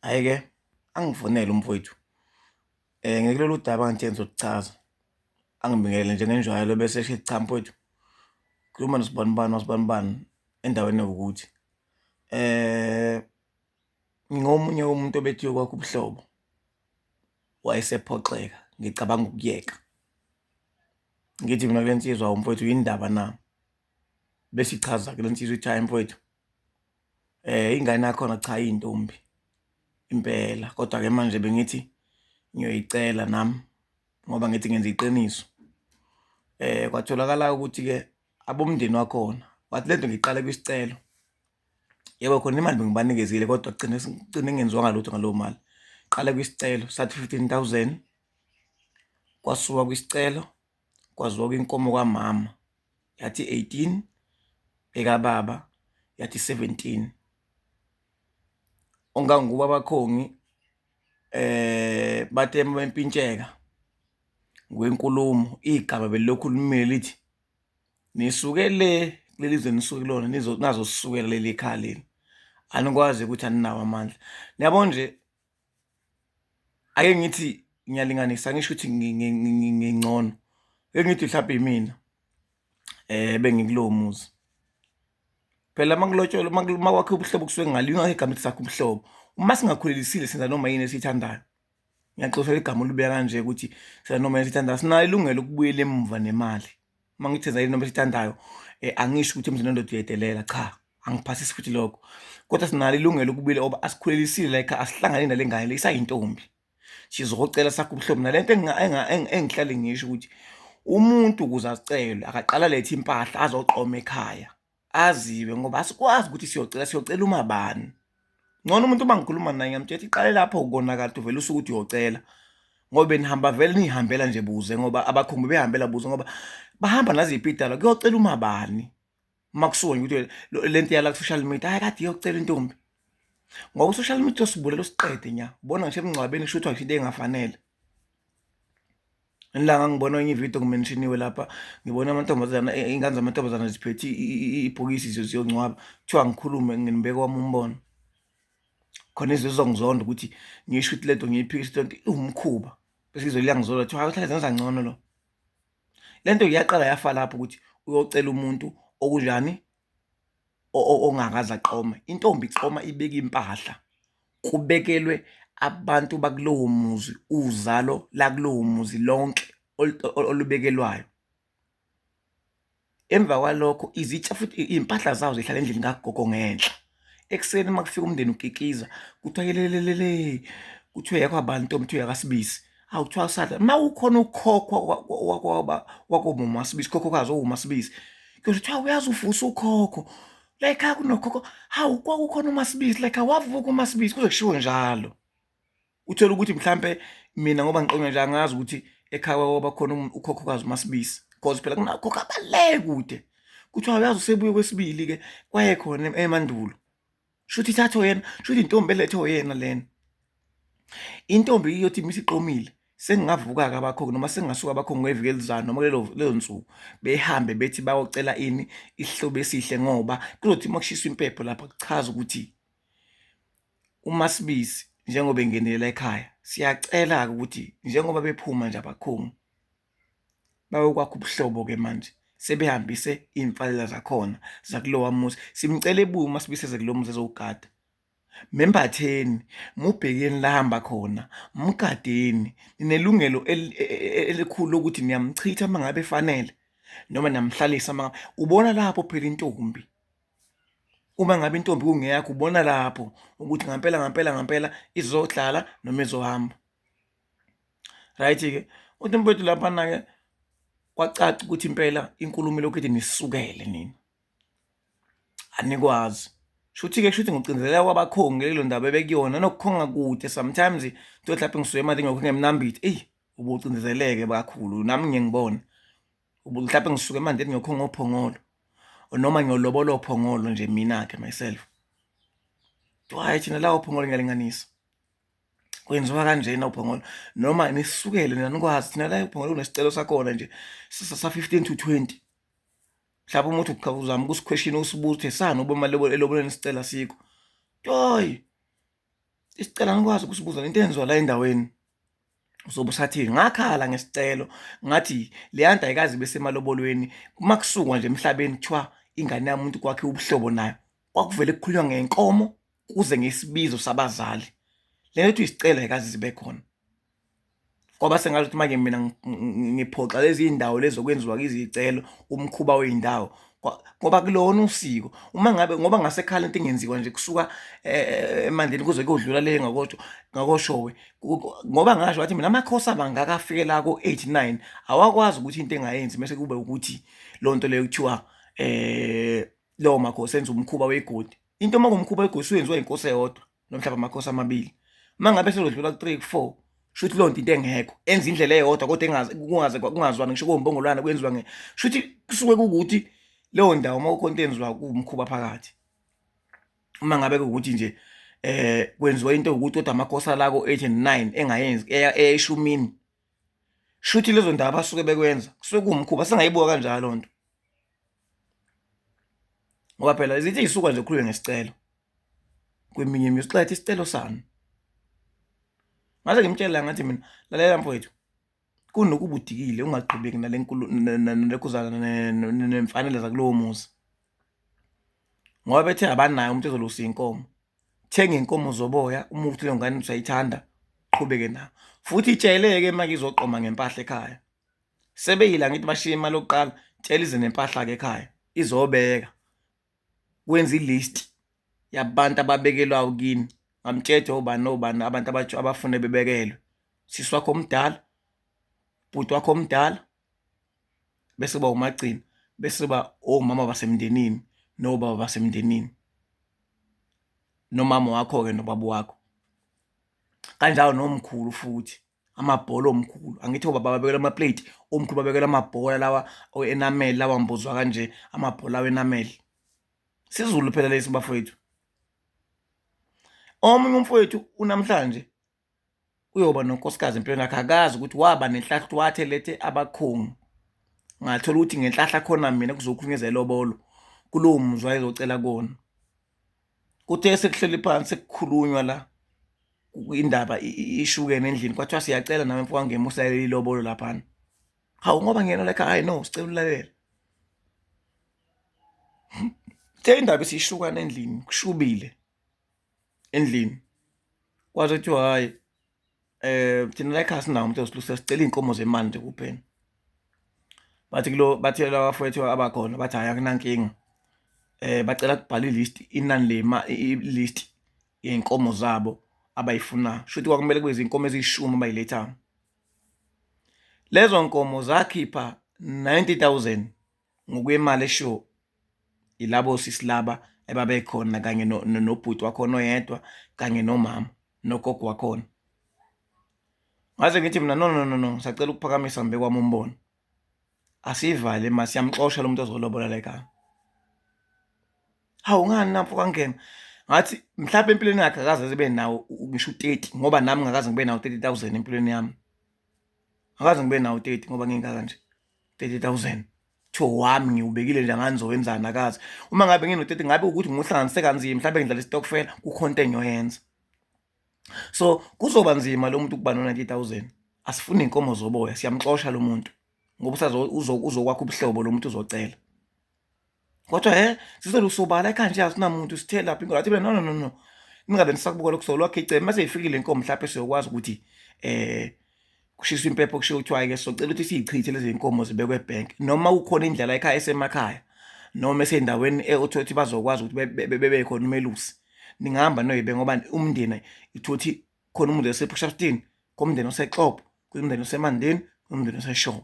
Hhayi-ke angivunele umfowethu um ngikulolu daba ngithe ngizokuchaza angibingelele njengenjwayelo bese esho cha mfowethu khuluma nosibanibani wasibanibani endaweni ewukuthi um ngingomunye womuntu obethiwe kwakho ubuhlobo wayesephoxeka ngicabanga ukuyeka ngithi mina kule nsizwa umfowethu yindaba na besichaza kule nsizwa ithi hayi mfowethu Ingane yakhona cha iyintombi impela, kodwa-ke manje bengithi ngiyoyicela nami ngoba ngithi ngenza iqiniso. Kwatholakala-ke ukuthi-ke abomndeni wakhona wathi lento ngiyiqale kwisicelo, yebo khona imali bengibanikezile kodwa kugcine kugcine kungenziwanga lutho ngaleyo mali. Qale kwisicelo sathi fifteen thousand kwasuka kwisicelo. kwazwakwa inkomo kamama yathi eighteen, ekababa yathi seventeen. Ongangubo abakhongi bathe uma bempintsheka ngokwenkulumo, igama belilokhu limile lithi, nisuke le kuleli zwe enisuke kulona nazosukela kuleli khaya lenu, anikwazi ukuthi aninawo amandla. Niyabo nje, ake ngithi ngiyalinganisa angisho ukuthi ngingcono ake ngithi mhlawumbe imina um bengikulowo muzi phela uma kulotsholwa uma kwakhe ubuhlobo kusuke ngalo ingakho igama ethi sakho ubuhlobo uma singakhulelisile senza noma yini esiyithandayo ngiyaxoshela igama olubeka kanje ukuthi senza noma yini esiyithandayo sinayo ilungelo ukubuyela emuva nemali uma ngithi enza into esithandayo um angisho ukuthi emzini wendoda uyedelela cha angiphasisi futhi lokho kodwa sinalo ilungelo ukubile oba asikhulelisile la ekhaya asihlangane nale ngane le isayintombi sizocela sakho ubuhlobo nale nto engihlale ngisho ukuthi umuntu ukuze acelwe akaqala lethe impahla azoqoma ekhaya aziwe ngoba asikwazi ukuthi siyocela siyocela uma bani ngcono umuntu uma ngikhuluma naye ngamtshela iqale lapho ukonakala uvele usuke ukuthi uyocela ngoba benihamba vele nihambela nje buze ngoba abakhumbi behambela buze ngoba bahamba naziphi idala kuyocela uma bani uma kusuke ukuthi le nto yala ku-social media hayi kade iyocela intombi ngoba u-social media usibulele usiqede nya ubona ngisho emngcwabeni kusho kuthiwa ngisho into engafanele Ilanga ngibona enye ividiyo ngimenshiniwe lapha ngibona amantombazana e, ingane zamantombazana ziphethe ibhokisi ziyongcwaba kuthiwa ngikhulume nginibeke wami umbono khona izwe zizongizonda ukuthi ngisho ukuthi le nto ngiyiphikisa le nto iwumkhuba bese izwe liyangizonda kuthiwa hayi uthanda zenza ngcono lo le nto iyaqala yafa lapho ukuthi uyocela umuntu okunjani ongakaze aqome intombi iqoma ibeke impahla kubekelwe abantu bakulowo muzi uzalo lakulowo muzi lonke olubekelwayo. Emva kwalokho izitsha futhi iy'mpahla zawo zihlala endlini kagogo ngenhla. ekuseni uma kufika umndeni ukikiza kuthiwa yelelelele kuthiwa yakho abantu ntombi kuthiwa yakasibisi hawu kuthiwa usadla uma ukhona ukhokhwa wakomama wasibisi khokhokazi owuma sibisi kuyothi kuthiwa uyazi uvusa ukhokho like akunokhokho hawu kwakukhona umasibisi like awavuka umasibisi kuze kushiwo njalo uthole ukuthi mhlampe mina ngoba ngiqonywa nje angazi ukuthi ekhaya kwaba khona um, ukhokhokazi umasibisi because phela kunakhokho abaleke kude kuthiwa uyazi usebuye kwesibili-ke kwayekhona emandulo shuthi ithathwe yena shuthi intombi elethwe yena lena intombi iyothi misiqomile sengingavuka-ke abakhongi noma sengingasuka abakhongi ngeviki elizayo noma leyo nsuku behambe bethi bayocela ini isihlobo esihle ngoba kuzothi uma kushiswa impepho lapha kuchaza ukuthi UMaSibisi njengoba engenelela ekhaya siyacela-ke ukuthi njengoba bephuma nje abakhungu bayokwakha ubuhlobo-ke manje sebehambise iy'mfalela zakhona zakulowa muzi simcela ebuye uMaSibisi eze kulo muzi ezowugada membatheni mubhekeni lahamba khona mgadeni ninelungelo e, e, e, elikhulu lokuthi niyamchitha uma ngabe efanele noma niyamhlalisa uma ubona lapho phela intombi uma ngabe intombi kungeyakho ubona lapho ukuthi ngampela ngampela ngampela izodlala noma izohamba right-ke uthi mfethu laphana-ke kwacaca ukuthi impela inkulumo lokhu ethi nisukele nina anikwazi shuthi-ke shuthi ngocinzeleka kwabakhongi lelo ndaba ebekuyona nokukhonga kude sometimes to mhlawumpe ngisuke emadini ngokho ngemnambithe eyi ubucindezeleke kakhulu nami ngiyengibona mhlawumbe ngisuke manje ngiyokho ngophongolo noma ngiyolobolo phongolo nje mina ke myself hayi thina lawo phongolo ngiyalinganisa kwenziwa kanjena uphongolo noma nisukele nina nikwazi thina la uphongolo kunesicelo sakhona nje sisa sa 15 to 20 mhlawumbe umuntu uqhaba uzama ukusikhweshini usibuze sani uba imali eloboleni isicela sikho toyi isicela ngikwazi ukusibuza into enziwa la endaweni uzobe usathini ngakhala ngesicelo ngathi leyanda ayikazi besemalobolweni uma kusukwa nje emhlabeni kuthiwa ingane yami umuntu kwakhe ubuhlobo nayo kwakuvele kukhulunywa ngenkomo kuze ngesibizo sabazali le nto isicelo ayikazi zibe khona kwaba sengathi ukuthi manje mina ngiphoxa lezi iy'ndawo lezi zokwenziwa izicelo umkhuba wey'ndawo ngoba kulona usiko uma ngabe ngoba ngasekhala into engenziwa nje kusuka eh, emandeni kuze kuyodlula le ngakosho ngakoshowe ngoba ngasho wathi mina amakhosi abangaka afike la ko 89 awakwazi ukuthi into engayenzi bese kube ukuthi lonto leyo kuthiwa eh lo makhosi enza umkhuba wegodi into uma kumkhuba wegodi uyenziwa inkosi eyodwa nomhlaba amakhosi amabili uma ngabe selodlula ku-three ku-four shuthi loo nto into engekho enza indlela eyodwa kodwa kungazwani ngisho kombongolwana kwenziwa nge shuthi kusuke kukuthi leyo ndawo uma kukhona into enziwa kuwumkhuba phakathi uma ngabe kukuthi nje eh kwenziwa into ukuthi kodwa amakhosi alako 8 and 9 engayenzi eyeshumini shuthi lezo ndawo abasuke bekwenza kusuke kuwumkhuba singayibuka kanjalo loo nto ngoba phela zithi isuka nje khuluke ngesicelo kweminye imizi xetha isicelo sami ngase ngimtshela ngathi mina lalela mfowethu kunokuba udikile ungaqhubeki nale nkulu nekuzana nemfanele zakulowo muzi ngoba bethe abanayo umuntu ezolusa inkomo thenga inkomo zoboya uma ukuthi leyo ngane usayithanda qhubeke nayo futhi itsheleke manje izoqoma ngempahla ekhaya sebeyila ngithi bashiye imali yokuqala tshela ize nempahla ke ekhaya izobeka wenza i-list yabantu ababekelwayo kini ngamtshetshe obani nobani abantu abatsho abafune bebekelwe sisi wakho omdala bhuti wakho omdala bese uba umagcina bese uba omama basemndenini nobaba basemndenini nomama wakho-ke nobaba wakho kanjalo nomkhulu futhi. amabhola omkhulu angithi obaba babekela amaplate omkhulu babekela amabhola lawa enameli lawa mbuzwa kanje amabhola wenameli sizulu phela lesi bafowethu omunye umfowethu unamhlanje uyoba nonkosikazi empilweni yakhe akazi ukuthi waba nenhlahla ukuthi wathe lethe abakhungu ngathola ukuthi ngenhlahla khona mina kuzokhulunyeza elobolo kulowo muzwa ezocela kona kuthe sekuhleli phansi kukhulunywa la indaba ishukene endlini kwathiwa siyacela nawe mfowethu ngemusalela ilobolo laphana hawu ngoba ngiyena la ekhaya hayi no sicela ulalela Kuthe indaba isishukana endlini, kushubile endlini. Kwaze kuthiwa hhayi eh thina la ekhaya sinawo umuntu osilusa sicela inkomo zemali nje kuphela bathi kulo bathela abafowethu abakhona bathi hayi akunankinga eh bacela kubhala ilist inani lema ilist yenkomo zabo abayifuna shuthi kwakumele kube izinkomo ezishumi abayiletha lezo nkomo zakhipha 90000 ngokwemali eshiwo yilabo sisi laba ebabekhona kanye nobhuti wakhona oyedwa kanye nomama nogogo wakhona ngaze ngithi mina no no no no ngisacela ukuphakamisa ngibe kwami umbono asivale ma siyamxosha lo muntu ozolobola la ekhaya hawu ngani namfo kangena ngathi mhlawumbe empilweni yakhe akaze zibe nawo ngisho u-30 ngoba nami ngakaze ngibe nawo 30000 empilweni yami akaze ngibe nawo 30 ngoba ngingaka nje 30000 cho wami ngiwubekile nje anganizowenzani akazi uma ngabe ngino-30 ngabe ukuthi ngiwuhlanganise kanzima mhlawumbe ngidlala isitokfela kukhona into engiyoyenza so kuzoba nzima lo muntu ukuba no-90000 asifuni iy'nkomo zoboya siyamxosha lo muntu ngoba uzokwakha ubuhlobo lo muntu uzocela kodwa he sizolusobala ekhaya nje asinamuntu sithe lapha inkosi athi mina no no no no ningabe nisakubukela ukusola lwakhe icele mase ifikile inkomo mhlawumbe siyokwazi ukuthi eh kushiswa impepho kushiwo kuthiwa ke socela ukuthi siyichithe lezi inkomo zibekwe ebank noma kukhona indlela ekhaya esemakhaya noma esendaweni eothothi bazokwazi ukuthi bebe khona umelusi ningahamba noyibe ngoba umndeni ithothi khona umuntu esephusha stini komndeni osexopo kumndeni osemandeni kumndeni oseshomo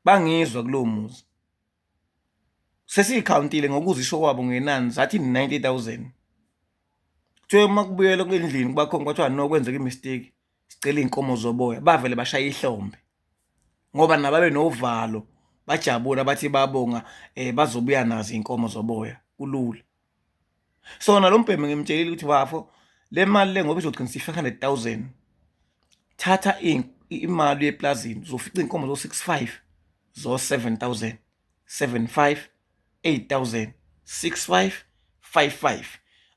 bangizwa kulowo muzi sesiyikhawuntile ngokuzisho kwabo ngenani zathi 90000 kuthiwe uma kubuyela endlini kubakhona kwathiwa no kwenzeka imistake sicela iy'nkomo zoboya bavele bashaya ihlombe ngoba nababe novalo bajabula bathi babonga um bazobuya nazo iy'nkomo zoboya kulula so nalo mbhemu ngimtshelile ukuthi bafo le mali le ngoba izogcina si-five hundred thousand thatha imali yeplazini uzofica iy'nkomo zo-six five zo-seven thousand seven five eight thousand six five five five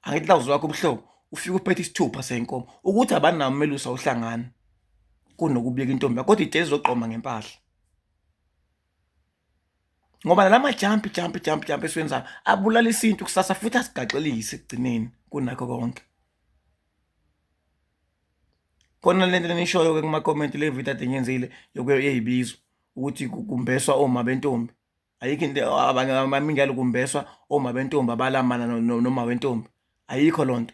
angithi lawuzi wakho ubuhlobo ufike uphethe isithupha sey'nkomo ukuthi abanawo umelusa uhlangana kunokubika intombi kodwa ijezi izogqoma ngempahla ngoba nala majampi jampi jampi jampi esiwenzayo abulala isintu kusasa futhi asigaxelise ekugcineni kunakho konke khona le nto enishoyo-ke kumakhomenti le video ade ngiyenzile yokuyeyibizo ukuthi kumbeswa oma bentombi ayikho into abanye bamingi yalo kumbeswa oma bentombi abalamana noma wentombi ayikho loo nto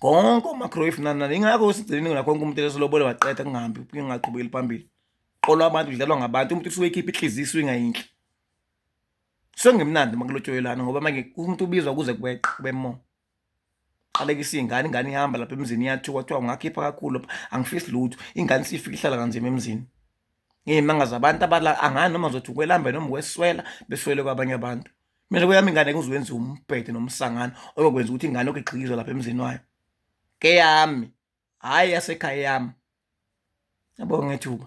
konke omagrave nanani ingakho sigcine nakho konke umuntu eselobola waqeda kungahambi kungaqhubekeli phambili qolo abantu kudlalwa ngabantu umuntu usuke ekhipha ihliziyo isuke ingayinhle sengemnandi makulotshoyelana ngoba manje umuntu ubizwa kuze kweqe kube mo qalekisa iy'ngane ingane ihamba lapha emzini iyathiwa kuthiwa ungakhipha kakhulu lapha angifisi lutho ingane siyifika ihlala kanzima emzini ngiyimanga zabantu abala angani noma zothi ukwelamba noma ukweswela beswele kwabanye abantu mina kweyami ingane kuzowenza umbhede nomsangano oyokwenza ukuthi ingane lokhu igxikizwe lapha emzini wayo keyami hhayi yasekhaya yami yabonga ngethuba